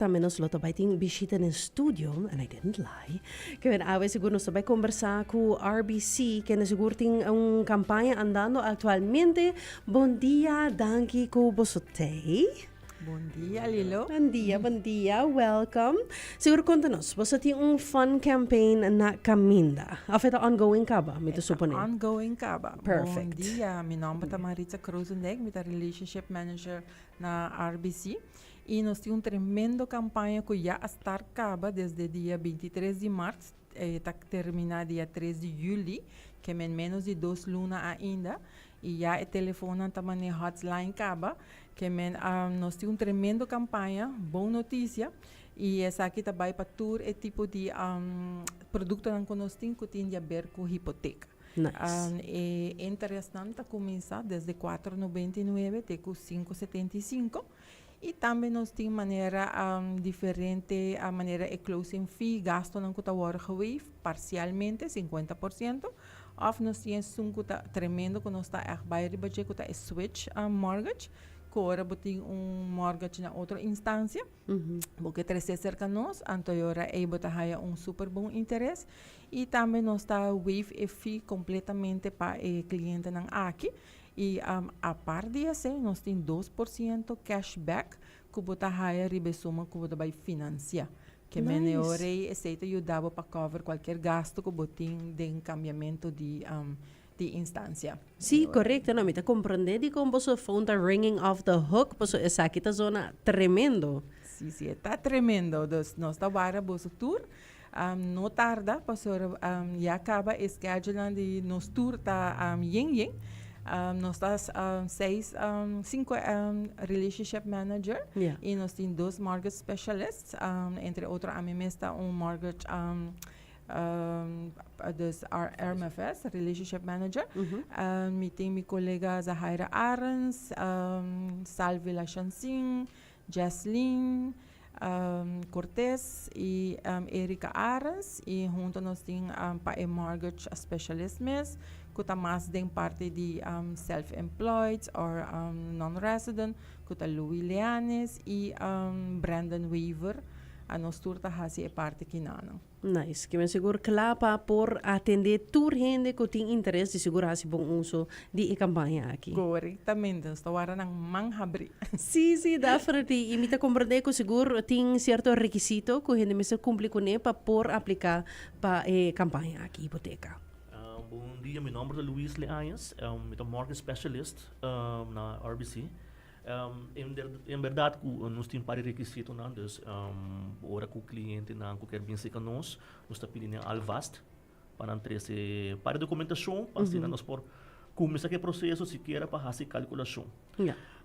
Tambe nos lo ta bai tin bishita den studio, and I didn't lie, kiber awe sigur nos ta bai kombersá ku RBC, kende sigur tin un kampaña andando aktualmente. Bondia, danki ku bosotei. Bondia Lilo. Bondia, bondia, welkom. Sigur konta nos, boso ta tin un fun campaign na kaminda, òf e ta ongoing kaba, mi ta suponé? E ta ongoing kaba. Perfect. Bondia, mi nòmber ta Maritza Kroosendijk, mi ta Relationship Manager na RBC. Y nos tin un tremendo campaña cu ya a start caba desde dia binti tres di marts ta termina dia tres di juli, que men menos di dos luna ainda, y ya e telefonnan ta mane hots line caba, que men a nos tin un tremendo campaña, bon noticia, y esaki ta bay pa tur e tipo di productonan cu nos tin cu tin di a ber cu hipoteca. E interesnan ta cuminsa desde cuatro nobenta y nuebe te cu cinco setenta y cinco. Y tambe nos tin manera diferente manera e closing fee gastonan cu ta worde gewaive parcialmente cincuenta por ciento of nos tin esun cu ta tremendo cu nos ta echt bay riba dje cu ta e switch mortgage cu ora bo tin un mortgage na otro instancia bo ke trece cerca nos anto e ora ey bo ta haya un super bon interes y tambe nos ta waive e fee completamente pa e clientenan aki. I apart di esei nos tin dos por siento cash back ku bo ta haya riba e suma ku bo ta bai finansiá. Ke mene ora ei esei ta yuda bo pa cover kualker gastu ku bo tin den kambiamentu di di instansia. Sí, korekto. Na mi ta komprondé dikon boso fon ta ringing off the hook paso esaki ta zona tremendo. Sí, sí, e ta tremendo. Dus nos ta wara boso tur. No tarda pasobra ya caba e schedulenan di nos tur ta yen yen. Nos ta seis cinco relationship manager y nos tin dos mortgage specialist entre otro ami mes ta un mortgage dus RMFS relationship manager mi tin mi colega Zahaira Arens Salvi Lashansin. Jaslyn Cortez y Erica Arens y hunto nos tin pa e mortgage specialist mes cu ta mas den parti di self employed or non resident cu ta Louis Leanis y Brandon Weaver a nos tur ta haci e parti kinan. Nice. Kimen sigur cla pa por atende tur hende cu tin interes di sigur haci bon uso di e campaña aki. Corectamente, nos ta wara nan man habri. Sí, sí, definitely. Y mi ta comprende cu sigur tin cierto requisito cu hende mester cumpli cune pa por aplica pa e campaña aki Hipoteca. Bon dia, mi nomber ta Luis Leañez. Mi ta mortgage specialist na RBC. En berdad cu nos tin un par di requisitonan, dus ora cu clientenan cu kier bin seca nos, nos ta pidi nan alvast pa nan trece un par di documentacion pa asina nos por cuminsa cu e proceso sikiera pa haci e calculacion.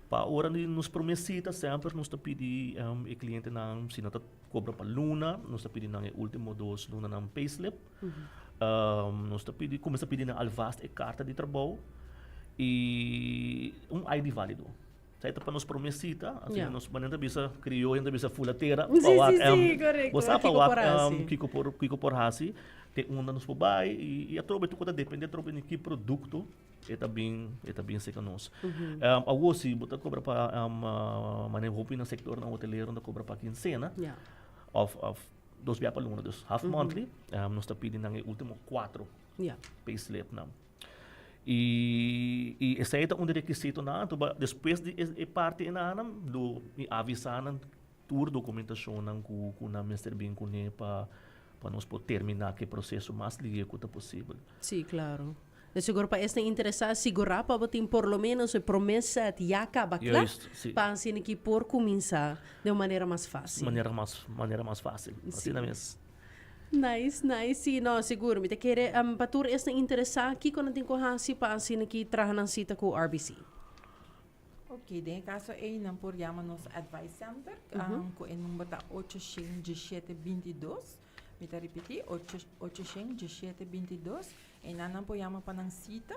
Pa ora di nos prome cita semper nos ta pidi e clientenan si nan ta cobra pa luna, nos ta pidi nan e ultimo dos lunanan payslip. Nos ta pidi kuminsá pidi nan alvast e karta di trabou i un ID válido. Sa e ta pa nos promé sita, asina nos manera nan ta bisa, krioyo nan ta bisa fula tera pa wak bo sa pa wak kiko por kiko por hasi, te unda nos por bai i atrobe tur kua ta dependé atrobe di ki produkto e ta bin e ta bin seka nos. Awor si bo ta kobra pa maneho hopi nan sektornan hotelero nan ta kobra pa kinsena òf òf. Dos bia pa luna, dus half monthly. Nos ta pidi nan e ultimo kuatro payslipnan. I i esei ta un di rekisitonan anto. But despues di e parti enannan lo mi avisa nan tur dokumentashonnan ku ku nan mester bin kuné pa pa nos por terminá ku e proseso mas lieku ta posibel. Sí, klaro. De segur pa esnan interesá sigurá pa bo tin por lo ménos e promé sèt ya kaba kla, Juist, sí. pa asina ki por kuminsá den un manera mas fásil. Manera mas manera mas fásil. Sí. Asina mes. Nice, nice. Sí, no, sigur. Mi ta kere, am, pa tur esnan interesá, kiko nan tin ku hasi pa asina ki traha nan sita ku RBC? Oké, den e kaso ei nan por yama nos Advice Center, am, ku e number ta ocho shen dieshete binti dos. Mi ta ripití, ocho, ochociènt diesisiete binti i dos, einan nan por yama pa nan sita.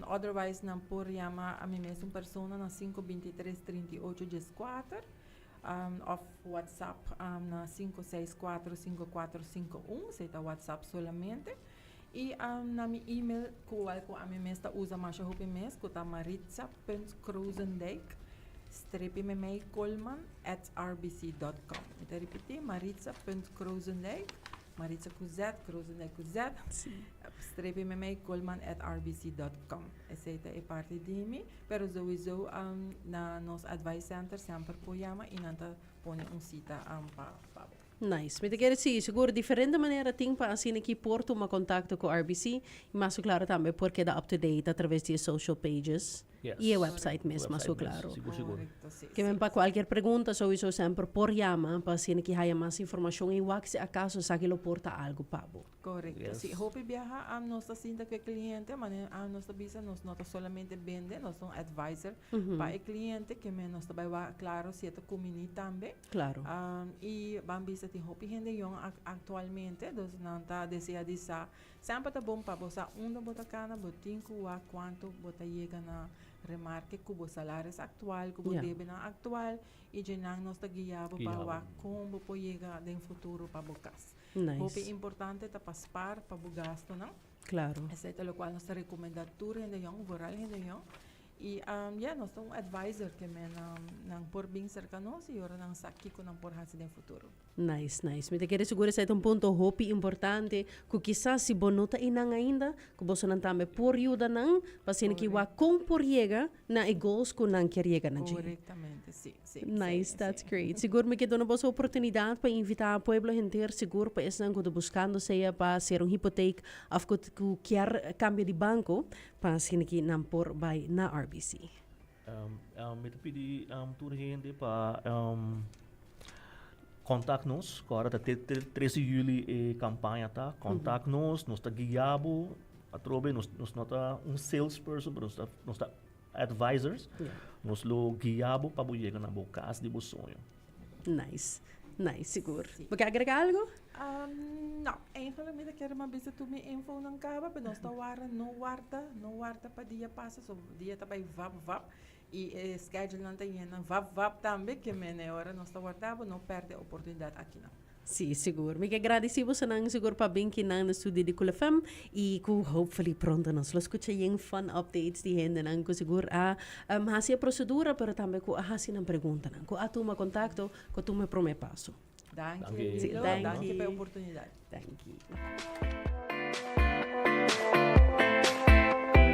Otherwise nan por yama a mi mes un persona na sinku binti tres trinta i ocho dies kuater òf whatsapp na sinku seis kuater sinku kuater sinku un, esei ta whatsapp solamente. I na mi email kowal ku ami mes ta usa masha hopi mes ku ta maritza.kroosendijk strepi memei koolman at rbc dot com. Mi ta ripiti maritza.kroosendijk maritza ku z kroosendijk ku z strepi memei koolman at rbc dot com. Esei ta e parti di mi pero souiso na nos advice center semper por yama i nan ta pone un cita pa bo. Nice. Mi ta kere sigui, sigur diferente manera tin pa asina ki por tuma contacto cu RBC, y mas su claro tambe por keda up to date a traves di e social pages Yes. y e website mes, mas su Website mes, claro. sigur sigur. Correcto, sí, Kimen sí. pa cualkier pregunta souiso semper por yama pa asina ki haya mas informacion y wak si acaso esaki lo por ta algo pa bo. Correcto, Yes. sí. Hopi biaha a nos ta sinta cu e cliente, mane a nos ta bisa nos no ta solamente bende, nos ta un advisor pa e cliente, kimen nos ta bay wak claro si e ta cumini tambe. Claro. Y ban bisa tin hopi hende young actualmente, dos nan ta desea di sa, semper ta bon pa bo sa unda bo ta cana, bo tin cu wak cuanto bo ta yega na remarke cu bo salaris actual, cu bo debenan actual y dje nan nos ta guia bo pa wak con bo por yega den futuro pa bo cas. Hopi importante ta pa spaar pa bo gastonan, esey ta locual nos ta recomenda tur hende young, vooral hende young, Y ya, nos ta un advisor ke nan por bin serka nos y ora nan sa kiko nan por hasi den futuro. Nice, nice. Mi ta kere sigur esei ta un punto hopi importante ku kisas si bo no ta ei nan ainda, ku bosonan tambe por yuda nan pa asina ke wak kon por yega na e goals ku nan kier yega na dje. Korektamente, si, si. Nice, that's great. Sigur mi ke duna boso e oportunidat pa invitá pueblo henter, sigur pa esnan ku ta buskando sea pa ser un hipoteka òf ku kier kambia di banko, Pa askiniki nan por bai na RBC. Mi ta pidi tur hende pa kontak nos, ku ora ta tres di yuli e kampaña ta. Kontak nos, nos ta guia bo atrobe. Nos no ta un sales person, pero nos ta advisers. Nos lo guia bo pa bo yega na bo kas di bo sueño. Nice. Nice, sigur. Bo kier agrega algu? No. Eigenlijk mi ta kere mas bisa tur mi infonan kaba, pero nos ta wara, no warda, no warda pa dia pasa. So, dia ta bai vap, vap. I e skedulenan ta yena vap, vap tambe. Ke mene ora nos ta wardabo, no pèrdè oportunidat akinan. Sí, sigur. Mi ke gradisí bosonan sigur pa bin kinan na studio di Cool FM i ku hopefully pronto nos lo skucha yen fun updates di hendenan ku sigur a hasi e prosedura pero tambe ku a hasi nan preguntanan, ku a tuma kontakto, ku a tuma e promé paso. Danki Lito. Danki pa e oportunidat. Danki.